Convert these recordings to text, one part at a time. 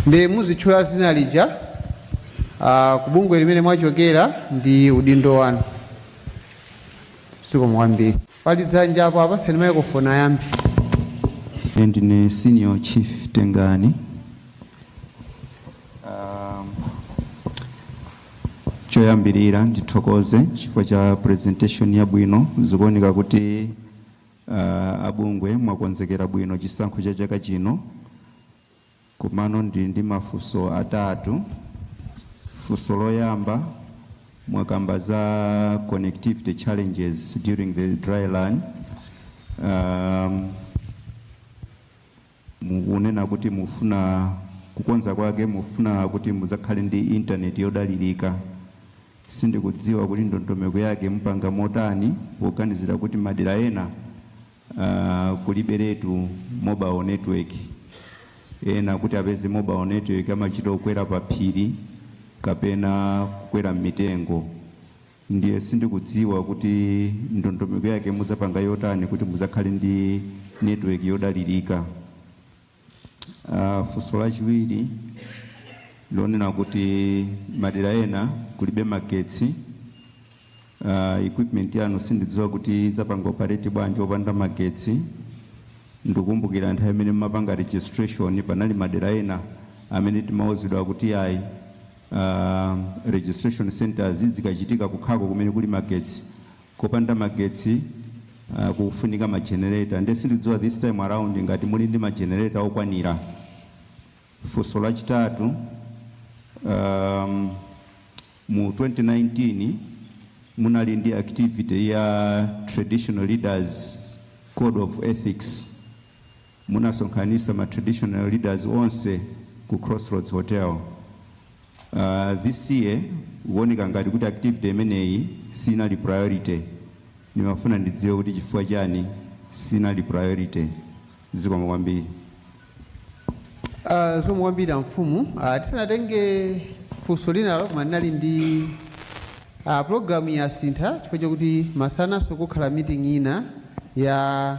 ndi muzitchula dzina lija ah, ku bungwe limene mwachokera ndi udindo wanu zikomo kwambiri pali dzanja apo apatseni maikrofoni ayambi Ine ndine senior chief tengani um, choyambirira ndithokoze chifukwa cha presentation yabwino zikuoneka kuti Aaa abungwe mwakonzekera bwino chisankho cha chaka chino komano ndili ndi mafunso atatu. Funso loyamba, mwakamba za connectivity challenges during the dry run, aam, Mukunena kuti mufuna kukonza kwake mufuna kuti mudzakhale ndi internet yodalirika. Sindikudziwa kuti ndondomeko yake mupanga motani poganizira kuti madera ena kuliberetu mobile network. Ena kuti apeze mobile network amachita kukwera paphiri kapena kukwera mmitengo. Ndiye sindikudziwa kuti ndondomeko yake muzapanga yotani kuti muzakhale ndi network yodalirika. Funso lachiwiri lonena kuti madera ena kulibe magetsi, equipment yanu sindidziwa kuti izapanga operate bwanji opanda magetsi. Ndikukumbukira nthawi imene mumapanga registration panali madera ena amene timauzidwa kuti ayi Aaa registration centres zikachitika kukhako kumene kuli magetsi kopanda magetsi aa kukufunika ma generator nde sindidziwa this time around ngati muli ndi ma generator okwanira. Funso lachitatu aa mu 2019 munali ndi activity ya traditional leaders code of ethics. munasonkhanitsa ma traditional leaders onse ku Crossroads Hotel. Aaa this year kuoneka ngati kuti activity imeneyi sinali priority. Ndimafuna ndidziwe kuti chifukwa chani sinali priority. Zikomo kwambiri. Uh, zikomo kwambiri amfumu uh, tisanatenge funso linalo koma ndinali ndi uh, programu yasintha chifukwa chakuti masananso kukhala meeting ina ya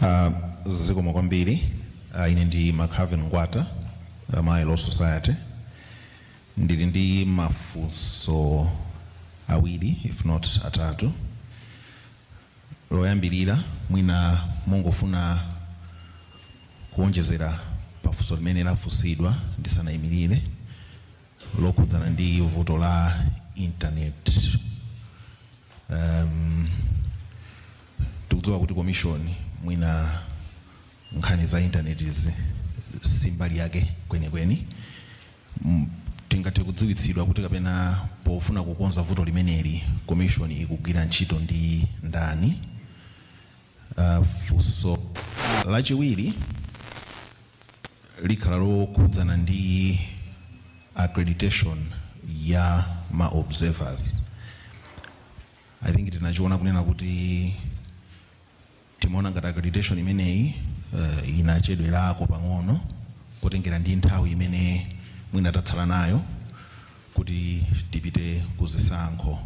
Uh, zikomo kwambiri uh, ine ndi macarvin ngwata uh, malawi law society ndili ndi mafunso awiri if not atatu loyambirira mwina mungofuna kuonjezera pafunso limene lafunsidwa ndisanayimirire lokhudzana ndi vuto la internet em tikudziwa kuti commission mwina nkhani za internet izi si mbali yake kwenikweni M- tingathe kudziwitsidwa kuti kapena pofuna kukonza vuto limeneli commission ikugwira ntchito ndi ndani Uh, funso lachiwiri likhala lokhudzana ndi accreditation ya ma observers i think tinachiona kunena kuti timaona ngati accreditation imeneyi uh, inachedwerako pang'ono kutengera ndi nthawi imene mwina tatsala nayo kuti tipite ku zisankho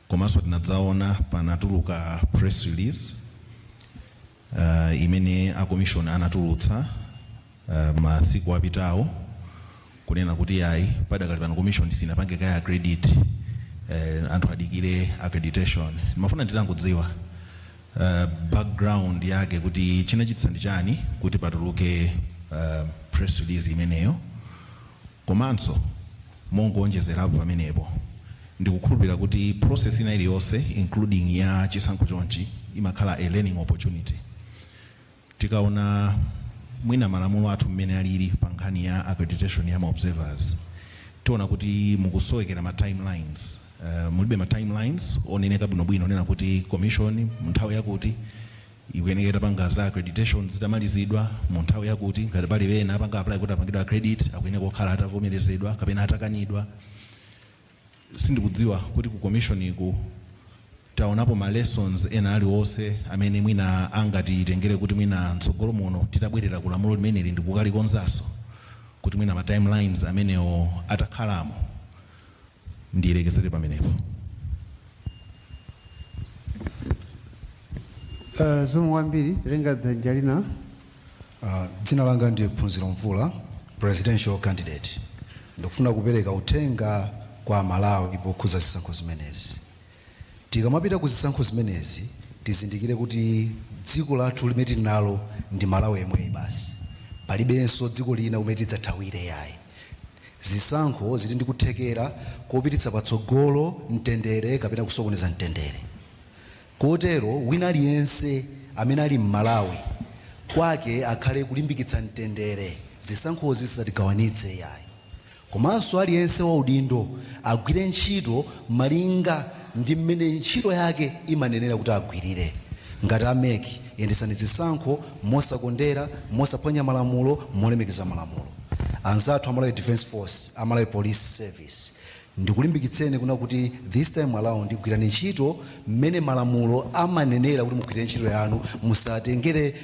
Komanso tinadzaona panatuluka press release imene a commission anatulutsa masiku apitawo kunena kuti yayi padakali pano commission sinapange kaye accredit anthu adikire accreditation. Ndimafuna nditangodziwa background yake kuti chinachititsa ndi chani kuti patuluke press release imeneyo. Komanso mongowonjezerapo pamenepo, ndikukhulupirira kuti process ina iliyonse including ya chisankho chonchi imakhala a learning opportunity. Tikaona mwina malamulo athu mmene alili pa nkhani ya accreditation ya ma observers, tiona kuti mukusowekera ma time lines, mulibe ma time lines oneneka bwinobwino onena kuti commission mu nthawi yakuti ikuyeneka itapanga za accreditation zitamalizidwa mu nthawi yakuti, ngati pali ena apanga apply kuti apangidwe accredit akuyeneka kukhala atavomerezedwa kapena atakanidwa. Sindikudziwa kuti ku commission iku taonapo ma lessons ena aliwonse amene mwina angatitengere kuti mwina mtsogolo muno titabwerera ku lamulo limeneli ndikukalikonzanso kuti mwina ma time lines amenewo atakhalamo, Ndilekezere pamenepo. Zikomo kwambiri. Titenga dzanja lina. Dzina langa ndi Phunziro Mvula, Presidential candidate. Ndikufuna kupereka uthenga kwa Amalawi pokhuza zisankho zimenezi. Tikamapita ku zisankho zimenezi tizindikire kuti dziko lathu limene tili nalo ndi Malawi yemweyi basi. Palibenso dziko lina kumene tidzathawire iyayi. Zisankho zili ndi kuthekera kopititsa patsogolo mtendere kapena kusokoneza mtendere. Kotero wina aliyense amene ali Mmalawi, kwake akhale kulimbikitsa mtendere zisankhozi zisatigawanitse iyayi. Komanso aliyense waudindo agwire ntchito malinga ndi mmene ntchito yake imanenera kuti agwirire. Ngati a mec, yendetsani zisankho mosakondera, mosaphwanya malamulo, molemekeza malamulo. Anzathu a Malawi Defence Force, a Malawi Police Service, ndikulimbikitseni kunena kuti this time around gwirani ntchito mmene malamulo amanenera kuti mugwirire ntchito yanu, musatengere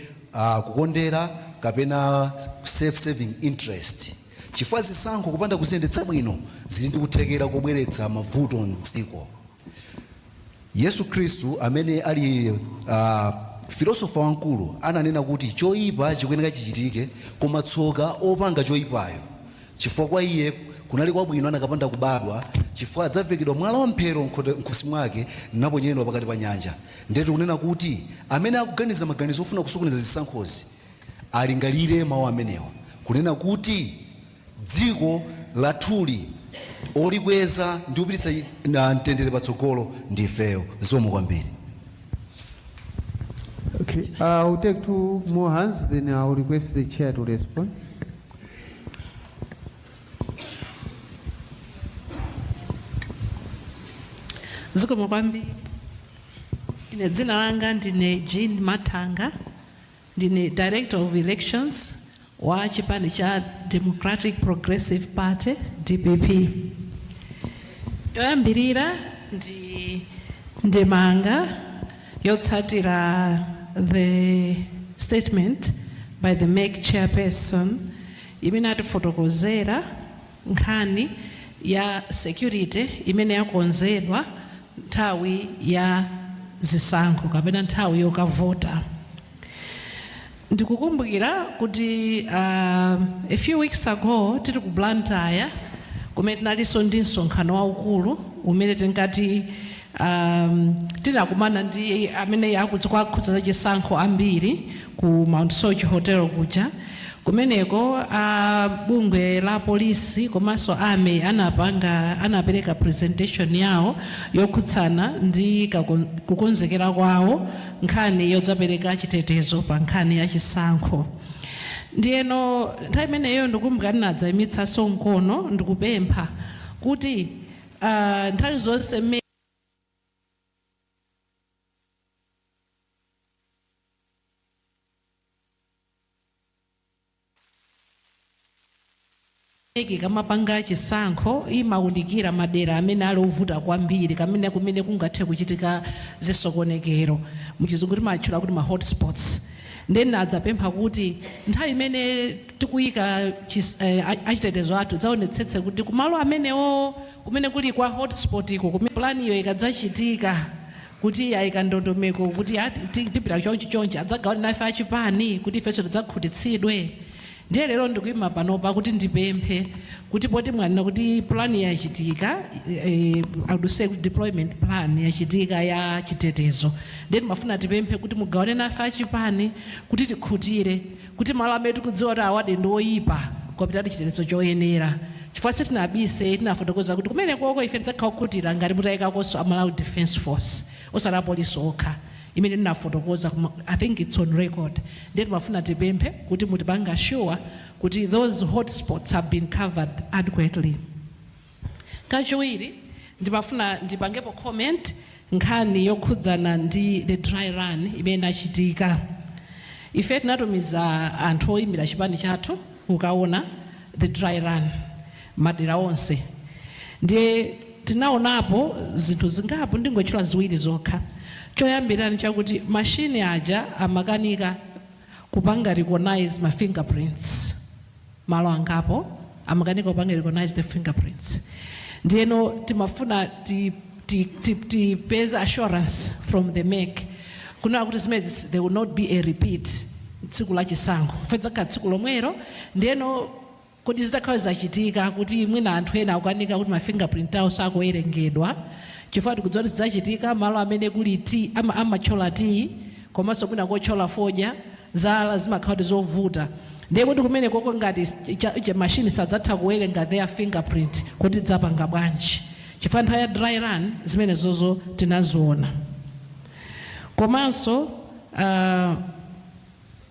kukondera kapena self serving interest. Chifukwa zisankho kupanda kuziyendetsa bwino zili ndi kuthekera kobweretsa mavuto m'dziko. Yesu Khristu amene ali a, filosofa wamkulu ananena kuti choipa chikuyenera chichitike koma tsoka opanga choipayo chifukwa kwa iye kunali kwabwino anakapanda kubadwa chifukwa adzavekedwa mwala wa mphero m'khote, m'khosi mwake naponyedwa pakati pa nyanja. Ndiye tikunena kuti amene akuganiza maganizo ofuna kusokoneza zisankhozi Alingalire mawu amenewa, kunena kuti, Dziko lathuli, olikweza ndi kupititsa mtendere patsogolo ndi ifeyo. Zikomo kwambiri. Okay, uh, we'll take two more hands, then I'll request the chair to respond. Zikomo kwambiri. Ine dzina langa ndine Jean Mathanga. Ndine Director of Elections wa chipani cha Democratic Progressive Party, dpp. Yoyambirira ndi ndemanga yotsatira the statement by the mec chairperson imene atifotokozera. nkhani ya security imene yakonzedwa nthawi ya zisankho kapena nthawi yokavota. Ndikukumbukira kuti a few weeks ago tili ku Blantyre kumene tinalinso ndi msonkhano waukulu umene tinkati um, tinakumana ndi amene zikuwakhudza za chisankho ambiri ku Mount Soche hotel kuja kumeneko a bungwe la polisi komanso a army anapanga anapereka presentation yawo yokhudzana ndi kakon- kukonzekera kwawo nkhani yodzapereka chitetezo pa nkhani ya chisankho ndiyeno nthawi imeneyo ndikumbukira ndinadzaimitsanso mkono ndikupempha kuti Ah, nthawi zonse mec ikamapanga chisankho imawunikira madera amene ali ovuta kwambiri kamene kumene kungathe kuchitika zisokonekero muchizungu timatchula kuti ma hotspots nde ndinadzapempha kuti nthawi imene Tikuyika chis a achitetezo athu dzaonetsetse kuti kumalo amenewowo kumene kuli kwa hotspot ko kumene plan yo ikadzachitika kuti ayika ndondomeko kuti a ti tipita chonchi chonchi adzagawane nafe achipani kuti ifenso tidzakhutitsidwe. Ndiye lero ndikuyima panopa kuti ndipemphe kuti poti mwanena kuti plan yachitika eh I would say kuti deployment plan yachitika ya chitetezo ndiye timafuna tipemphe kuti mugawane nafe achipani kuti tikhutire. kuti malo amene tikudziwa kuti awadi ndi oyipa kwapitadi chitetezo choyenera chifukwa sitinabise tinafotokoza kuti kumenekoko ife tidzakhala okhutira ngati mutayikakonso a Malawi Defence Force osati apolisi okha imene ndinafotokoza koma I think it's on record ndiye timafuna tipemphe kuti mutipange sure kuti those hotspots have been covered adequately. Kachiwiri ndimafuna ndipangepo comment nkhani yokhudzana ndi the dry run imene inachitika. Ife tinatumiza anthu oyimira chipani chathu kukawona the dry run madera onse ndiye tinawonapo zinthu zingapo ndingotchula ziwiri zokha. Choyambirira ndichakuti machine aja amakanika kupanga recognize ma finger prints. malo angapo amakanika kupanga recognise the fingerprints ndiyeno timafuna ti, ti, ti, tipeze assurance from the MEC kunena kuti zimenezi there will not be a repeat tsiku la chisankho fedzakhala tsiku lomwero ndiyeno kodi zitakhala zachitika kuti mwina anthu ena akukanika kuti ma fingerprint awo sakuwerengedwa chifukwa tikudziwa kuti zidzachitika malo amene kuli t ama- amatchola tiyi komanso mwina kotchola fodya, zala zimakhala kuti zovuta ndiye kodi kumenekoko ngati cha, cha machine sadzatha kuwerenga their fingerprint kodi tidzapanga bwanji chifukwa nthawi ya dry run zimenezozo tinaziona komanso ah,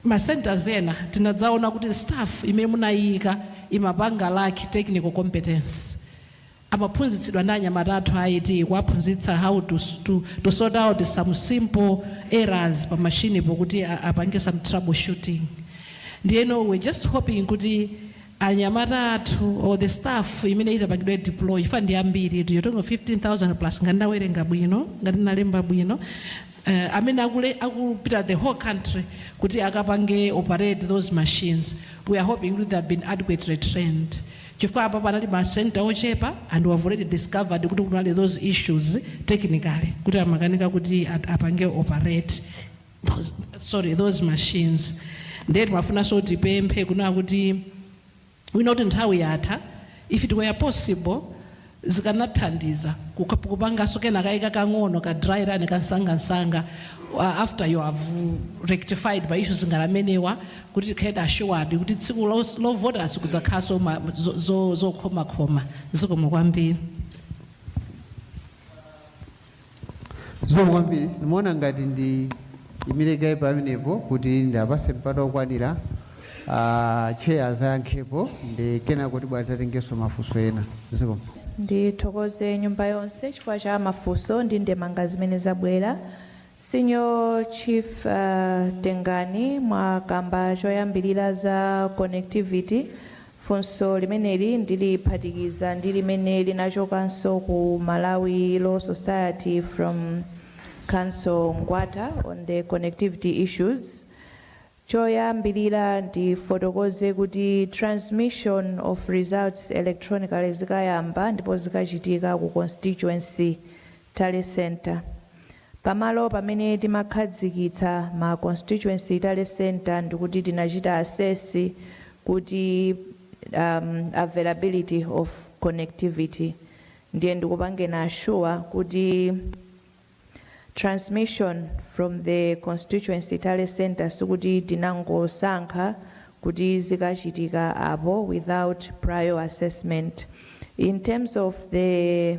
ma centers ena tinadzaona kuti staff imene munayika imapanga lack technical competence amaphunzitsidwa ndi anyamata athu a IT kuwaphunzitsa how to to to sort out some simple errors pa machine po kuti apange some trouble shooting ndiyeno we're just hoping kuti anyamata athu or the staff imene itapangidwe deploy chifukwa ndi ambiri you're talking of 15000 plus ngati ndawerenga bwino ngati ndalemba bwino uh, amene akule akupita the whole country kuti akapange operate those machines we are hoping kuti they have been adequately trained chifukwa apa panali ma center ochepa and we have already discovered kuti kunali those issues technically kuti amakanika kuti at- apange operate those, sorry those machines ndiye timafunanso tipemphe kunena kuti we know kuti nthawi yatha, if it were possible zikanathandiza kupanganso kena kake kakang'ono ka dry run kamsangamsanga after you have rectified ma issues ngati amenewa kuti tikhale assured kuti tsiku lovota sikudzakhalanso zokhomakhoma. Zikomo kwambiri. zikomo kwambiri ndimaona ngati ndiimire kaye pamenepo kuti ndiapase mpata okwanira ah, chair azayankhepo ndi kenako tibwera tizatengenso mafunso ena zikomo ndithokoze nyumba yonse chifukwa cha mafunso ndi ndemanga zimene zabwera senior chief uh, Tengani mwakamba choyambirira za connectivity Funso limeneli ndiliphatikiza ndi limene linachokanso ku Malawi Law Society from Counsel Ngwata on the connectivity issues. Choyambirira ndifotokoze kuti transmission of results electronically zikayamba ndipo zikachitika ku constituency Tally Centre. Pamalo pamene timakhadzikitsa ma Constituency Tally Centre ndikuti tinachita assess kuti um availability of connectivity ndiye ndikupangeni assure kuti transmission from the Constituency Tally Centre sikuti tinangosankha kuti zikachitika apo without prior assessment. In terms of the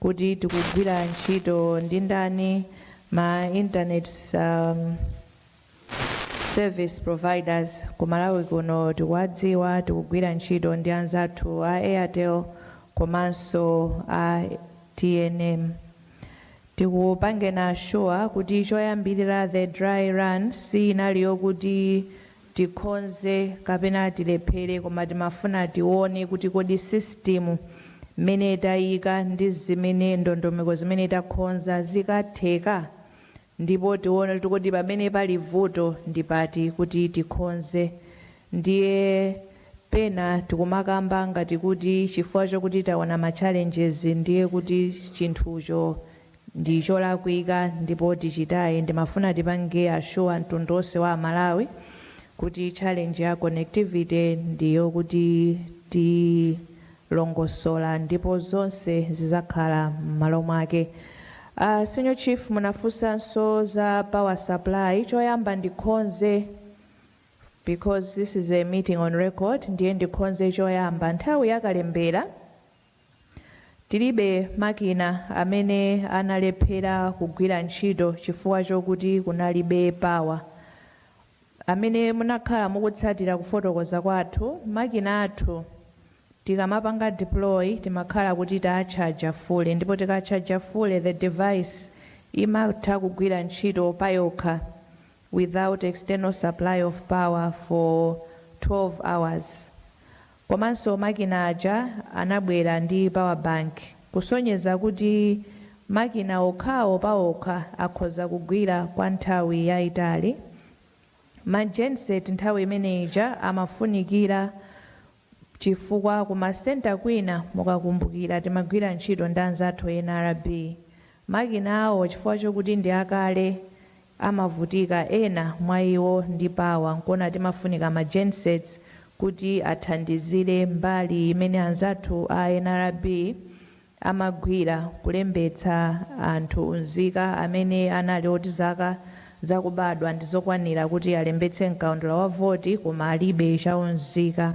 kuti tikugwira ntchito ndi ndani, ma internet service providers ku Malawi kuno tikuwadziwa, tikugwira ntchito ndi anzathu a Airtel komanso a tnm. Tikupangeni assure kuti choyambirira the dry run siinali yokuti tikhonze kapena tilephere koma timafuna tione kuti kodi system mmene tayika ndi zimene ndondomeko zimene takhonza zikatheka ndipo tione kuti kodi pamene pali vuto ndi pati kuti tikhonze ndiye pena tikumakamba ngati kuti chifukwa chokuti taona ma challenges ndiye kuti chinthucho ndi cholakwika ndipo tichitaye ndimafuna tipange assure mtundu onse wa amalawi kuti challenge ya connectivity ndi yokuti tilongosola ndipo zonse zizakhala mmalo mwake uh, senior chief munafunsanso za power supply choyamba ndikhonze because this is a meeting on record ndiye ndikhonze choyamba nthawi yakalembera Tilibe makina amene analephera kugwira ntchito chifukwa chokuti kunalibe power. Amene munakhala mukutsatira kufotokoza kwathu, makina athu tikamapanga deploy timakhala kuti taatchaja fule ndipo tikatchaja fule the device imatha kugwira ntchito payokha without external supply of power for 12 hours. Komanso makina aja anabwera ndi power bank kusonyeza kuti makina okhawo paokha akhoza kugwira kwa nthawi yaitali. Ma genset nthawi imene ija amafunikira chifukwa ku ma centre kwina mukakumbukira timagwira ntchito ndi anzathu a nrb, makina awo chifukwa chokuti ndi akale amavutika ena mwa iwo ndi power nkuona timafunika ma gensets kuti athandizire mbali yimene anzathu a nrb amagwira kulembetsa anthu unzika amene anali oti zaka zakubadwa ndizokwanira kuti alembetse mkaundula wa voti koma alibe chaunzika.